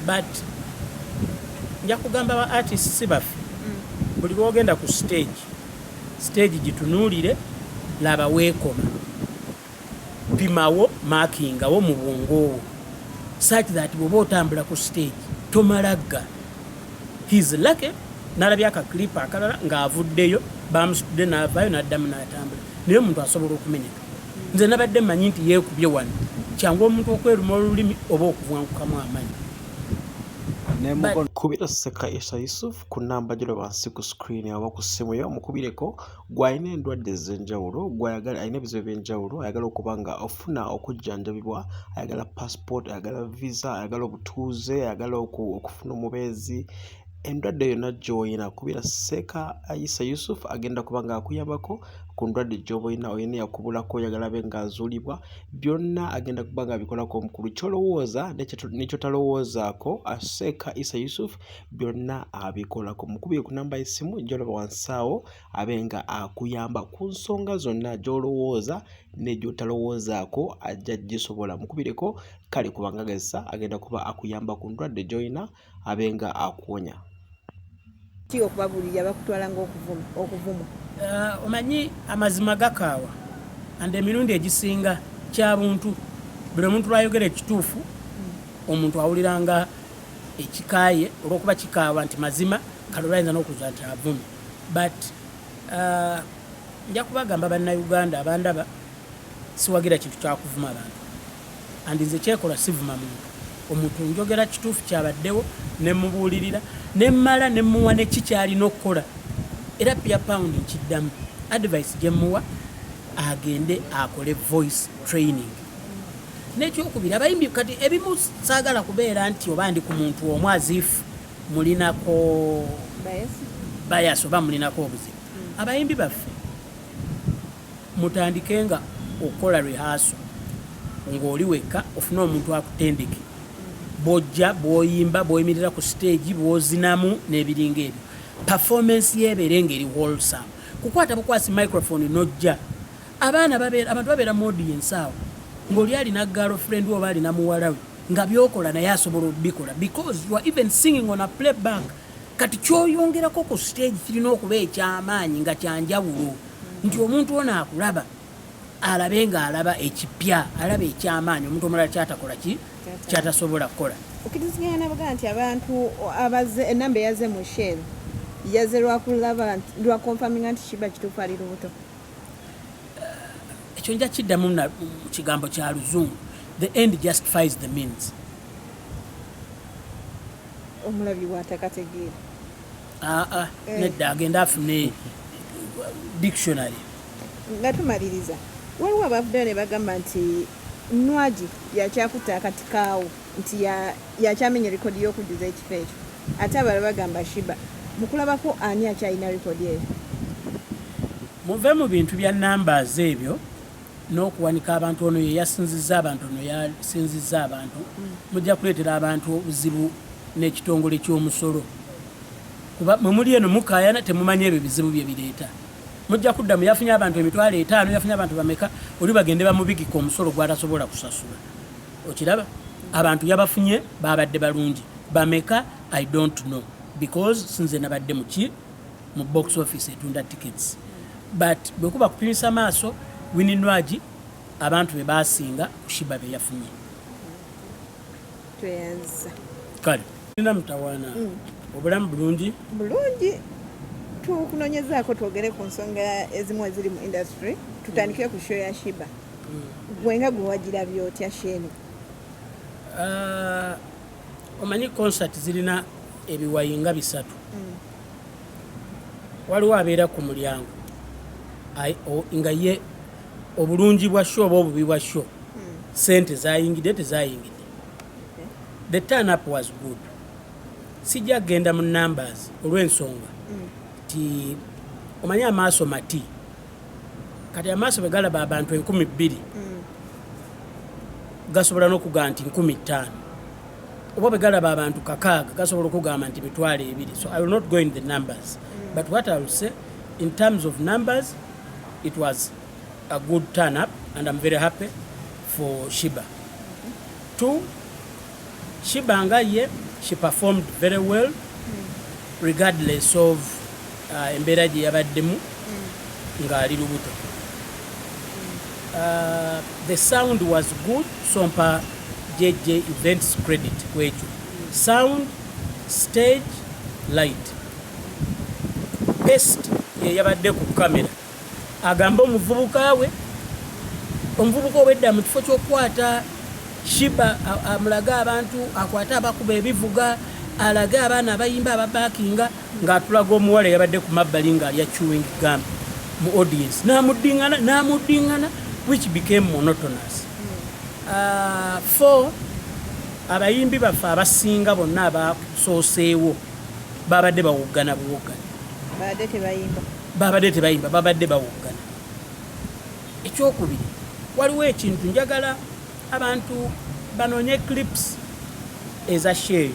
but nja kugamba ba artist si baffe mm. buli lwogenda ku stage stage gitunuulire laba weekoma pimawo makingawo mu bwongoowo such that bwoba otambula ku stage tomalagga his lucky nalabye akaklipa akalala ng'avuddeyo bamusitudde n'avaayo n'addamu n'atambula naye omuntu asobola okumenyeka nze nabadde manyi nti yekubye wano kyangu omuntu okweruma olulimi oba okuvwankukamu amanyi kubira sekayisa yusuf ku namba gino wansi ku screen oba ku ssimu yo omukubireko gwalina endwadde ez'enjawulo gwayagala alina ebizibu eby'enjawulo ayagala okuba nga ofuna okujjanjabibwa ayagala passport ayagala visa ayagala obutuuze ayagala okufuna omubeezi Endwadde yonna gy'oyina kubira Seeka Isa Yusuf agenda kuba ng'akuyambako ku ndwadde gy'oba olina olina eyakubulako oyagala abe ng'azuulibwa byonna agenda kuba ng'abikolako omukulu ky'olowooza ne ky'otalowoozaako Seeka Isa Yusuf byonna abikolako mukubire ku namba y'essimu gy'olaba wansi awo abe nga akuyamba ku nsonga zonna gy'olowooza ne gy'otalowoozaako ajja gisobola mukubireko kale kubanga agezesa agenda kuba akuyamba ku ndwadde gy'olina abenga akuwonya. Ki okubabulirira bakutwala nga okuvumwa. Uh, omanyi amazima gakaawa and emirundi egisinga kyabuntu buli omuntu lwayogera ekituufu omuntu awulira nga ekikaaye olwokuba kikaawa nti mazima kale olwayinza nokuza nti avumi but uh, nja kubagamba bannauganda abandaba siwagira kintu kyakuvuma abantu and nze kyekola sivuma muntu omuntu njogera kituufu kyabaddewo nemubuulirira nemmala nemuwa neki kyalina okukola era pia pound nkiddamu advice gyemuwa agende akole voice training nekyokubiri abayimbi kati ebimu saagala kubeera nti oba ndi ku muntu omu azifu mulinako bayasi oba mulinako obuzibu abayimbi baffe Mutandike nga okukola rehearsal nga oli wekka ofune omuntu akutendeke bwojja, bwoyimba, bwoyimirira ku stage, bwozinamu nebiringa ebyo. Performance yo ebeere nga eri wholesome. Kukwata bukwasi microphone nojja. Abaana babeera abantu babeera mu audience awo nga oli alina girl friend oba alina muwala we nga byokola naye asobola obikola because you are even singing on a playback. Kati kyoyongerako ku stage kirina okuba ekyamaanyi nga kyanjawulo. nti omuntu ono akulaba alabe nga alaba ekipya alaba ekyamaanyi omuntu omulala kyatakola ki kyatasobola kukola okitiziganya nabagana nti abantu abaze enamba eyaze mu shel yaze lwakulaba lwakonfaminga nti kiba kituufu ali lubuto eh, ekyo nja kiddamu mu kigambo kya luzungu the end justifies the means omulabi watakategeera Ah, ah, eh. nedda agenda afune dictionary nga tumaliriza waliwo abavuddeyo ne bagamba nti nwagi yakyakutta akati kaawo nti yakyamenya rekodi y'okujjuza ekifo ekyo ate abala bagamba shiba mukulabako ani akyalina rekodi eyo muve mu bintu bya numbers ebyo n'okuwanika abantu ono ye yasinzizza abantu ono yasinzizza abantu mm. mujja kuleetera abantu obuzibu n'ekitongole ky'omusolo kuba mwe muli eno mukaayana temumanya ebyo bizibu bye bireeta mujja kudda mu yafunye abantu emitwalo etaano yafunye abantu bameka oli bagende bamubigika omusolo gwatasobola kusasula okiraba abantu yabafunye baabadde balungi bameka i don't know because sinze nabadde muki mu box office etunda tickets but bwekuba kupimisa maaso wini nwagi abantu be basinga kushiba be yafunye tweyanza kale nina mutawana mm. obulamu bulungi bulungi tukunonyezaako twogere ku nsonga ezimu eziri mu industry tutandikire ku show ya shiba mm. gwe nga gwewagira byotya sheni uh, omanyi concert zirina ebiwayinga bisatu mm. waliwo abeera ku mulyango nga ye obulungi bwa sho oba obubi bwa sho hmm. sente zayingidde tezayingidde the turn up was good sijja kugenda mu numbers olw'ensonga hmm. ti omanyi amaaso mati kati amaaso bwe galaba abantu enkumi bbiri mm. gasobola n'okugamba nti nkumi ttaano oba bwe galaba abantu kakaaga gasobola okugamba nti mitwalo ebiri so i will not go in the numbers mm. but what i will say in terms of numbers it was a good turn up and i'm very happy for shiba mm -hmm. two Shiba nga ye she performed very well regardless of uh, embeera gye yabaddemu ng'ali lubuto uh, the sound was good so mpa jj events credit kwekyo sound stage light best yeyabadde ku kamera agamba omuvubuka we omuvubuka obwedda mu kifo ky'okukwata shiba amulage abantu akwate abakuba ebivuga alage abaana abayimba ababakinga ng'atulaga omuwala yabadde ku mabbali ng'alya chewing gum mu audience namuddingana namuddingana which became monotonous uh, four abayimbi baffe abasinga bonna abasooseewo babadde bawoggana buwoggana Babadde tebayimba, babadde bawoggana. Ekyokubiri, waliwo ekintu njagala abantu banoonye clips eza sheeyo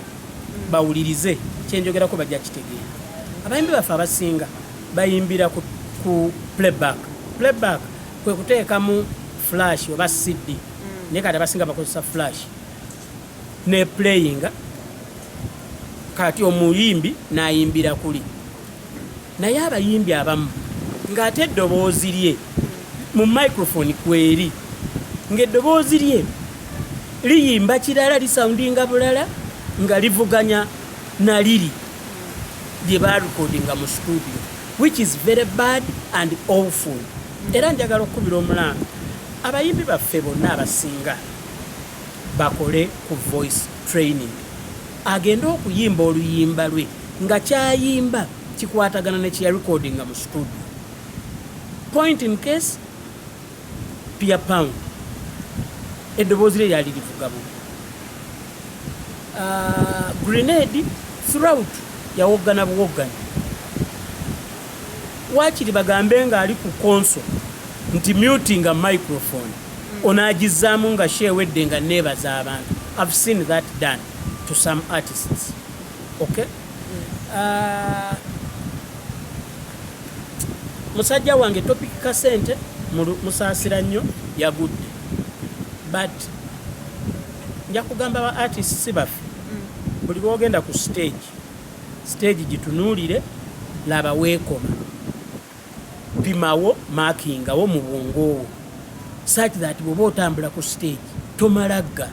bawulirize kyenjogerako bajja kitegeera. Abayimbi baffe abasinga bayimbira ku, ku playback. Playback kwe kuteekamu flash oba CD. Mm. Naye kati abasinga bakozesa flash ne playinga kati omuyimbi nayimbira kuli Naye abayimbi abamu nga ate eddoboozi lye mu microphone kweri nga eddoboozi lye liyimba kirala lisoundinga bulala nga livuganya na liri lye barekodinga mu studio which is very bad and awful era njagala okukubira omulanga abayimbi baffe bonna abasinga bakole ku voice training agende okuyimba oluyimba lwe nga kyayimba kikwatagana ne kyeya recordinga mu studio point in case pia pound eddoboozi lye lyali livuga bu ah, grenade throughout yawoggana buwoggana wakiri bagambe ng'ali ku konso nti mutinga microphone onaagizzaamu nga sheewedde nga neebaza abantu i've seen that done to some artists okay Ah, musajja wange topic kasente musaasira nnyo yagudde but nja kugamba ba artist si baffe mm. buli lwogenda ku stage stage gitunuulire laba weekoma Pimawo, markingawo mu bwongo wo such that bwoba otambula ku stage tomalagga.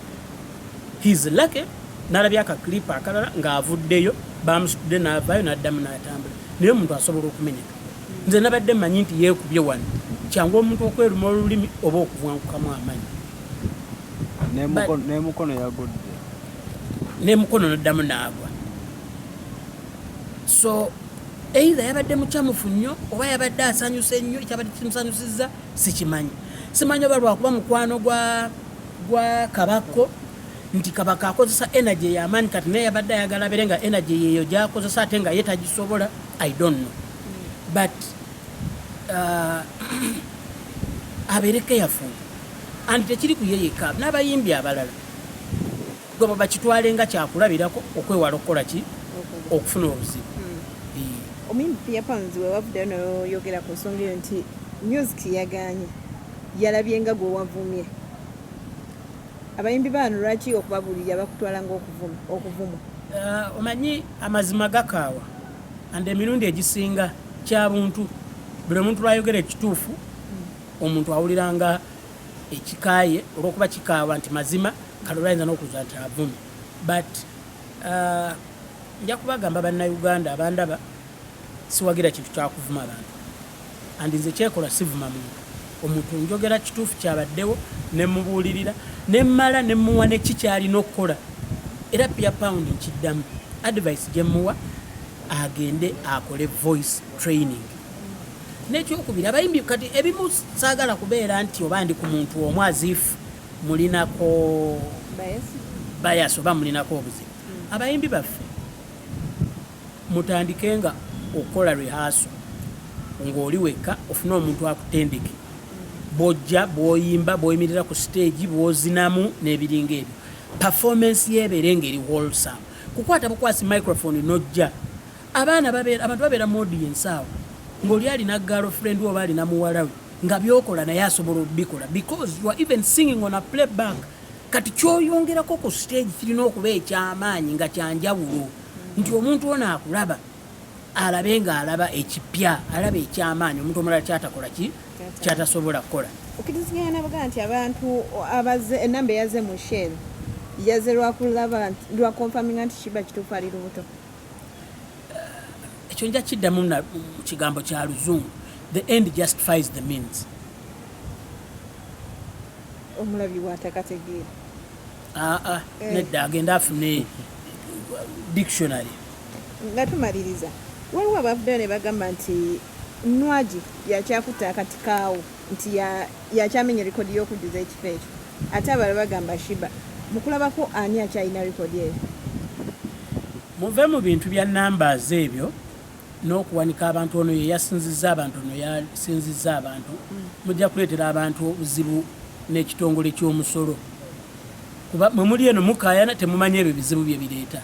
He's lucky nalabye aka clip akalala ng'avuddeyo bamusitudde n'avaayo n'addamu n'atambula naye omuntu asobola okumenyeka nze nabadde manyi nti yeekubye wano kyangu omuntu okweruma olulimi oba okubwankukamu amanyi nemukono yagudde nemukono noddamu naagwa so Either yabadde mucamufu nnyo oba yabadde asanyuse nnyo, ekyabadde kimusanyusizza sikimanyi. Simanyi oba lwakuba mukwano gwa gwa kabakko nti kabaka akozesa energy eyamaanyi kati naye yabadde ayagala abere nga energy yeeyo gyakozesa ate nga ye tagisobola i don't know but uh, abeere careful and tekiri ku ye yekka n'abayimbi abalala Gwe bakitwale nga kyakulabirako okwewala okukola ki okufuna obuzibu. Hmm. Omuyimbi Pia Pounds we wavuddeyo n'oyogera ku nsonga eyo nti music yaganye yalabye nga gwe wavumye abayimbi baano lwaki okubabuulirira bakutwala ngaokuvuma eh, omanyi amazima gakaawa and emirundi egisinga kyabuntu buli omuntu lwayogera ekituufu hmm. omuntu awulira nga ekikaaye olwokuba kikaawa nti mazima kalolo ayinza n'okuza nti avumi but uh, nja kubagamba bannayuganda abandaba siwagira kintu kyakuvuma abantu and nze kyekola sivuma muntu omuntu njogera kituufu kyabaddewo nemubuulirira nemmala nemuwa neki kyalina okukola era pia pound nkiddamu advice gyemuwa agende akole voice training Nekyokubiri abayimbi kati ebimu saagala kubeera nti oba ndi ku muntu omu azifu mulinako bayasi oba mulinako obuzibu. Hmm. Abayimbi baffe mutandike nga okukola rehaso ng'oli wekka ofune omuntu akutendeke hmm. bwojja bwoyimba bwoyimirira ku siteegi bwozinamu n'ebiringa ebyo performance yeebeere ng'eri wholesome kukwata bukwasi microphone nojja abaana babeera abantu babeera mu audience awo ng'oli alina girlfriend oba alina muwala we nga byokola naye asobola obikola because you are even singing on a playback kati kyoyongerako ku stage kirina okuba ekyamaanyi nga kyanjawulo nti omuntu ono akulaba alabe nga alaba ekipya alaba ekyamaanyi omuntu omulala kyatakola ki kyatasobola kukola okiriziganana bagamba nti abantu abaze enamba eyaze mu shell yaze lwakulaba lwakonfaminga nti kiba kituufu ali lubuto ekyo nja kiddamu mu kigambo kya luzungu the end justifies the means omulabi watakategeera aa ah, ah, eh. nedda agenda afune dictionary nga tumaliriza waliwo abavuddeyo ne bagamba nti nwagi yakyakutta akati kaawo nti yakyamenya likodi y'okujjuza ekifo ekyo ate abala bagamba shiba mukulabako ani akyalina likodi eyo muve mu bintu bya numbers ebyo n'okuwanika abantu ono ye yasinzizza abantu ono yasinzizza abantu mm. mujja kuleetera abantu obuzibu n'ekitongole ky'omusolo kuba mwe muli eno mukayana temumanyi ebyo bizibu bye bireeta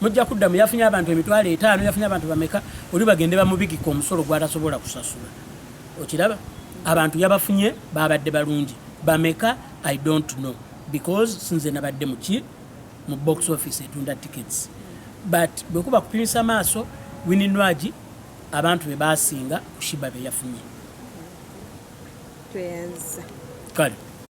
mujja kuddamu yafunye abantu emitwalo etaano yafunye abantu bameka oli bagende bamubigika omusolo gwatasobola kusasula okiraba abantu yabafunye babadde balungi bameka i don't know because sinze nabadde muki mu box office etunda tickets but bwekuba kupimisa maaso wininwagi abantu bebasinga kushiba beyafunye kale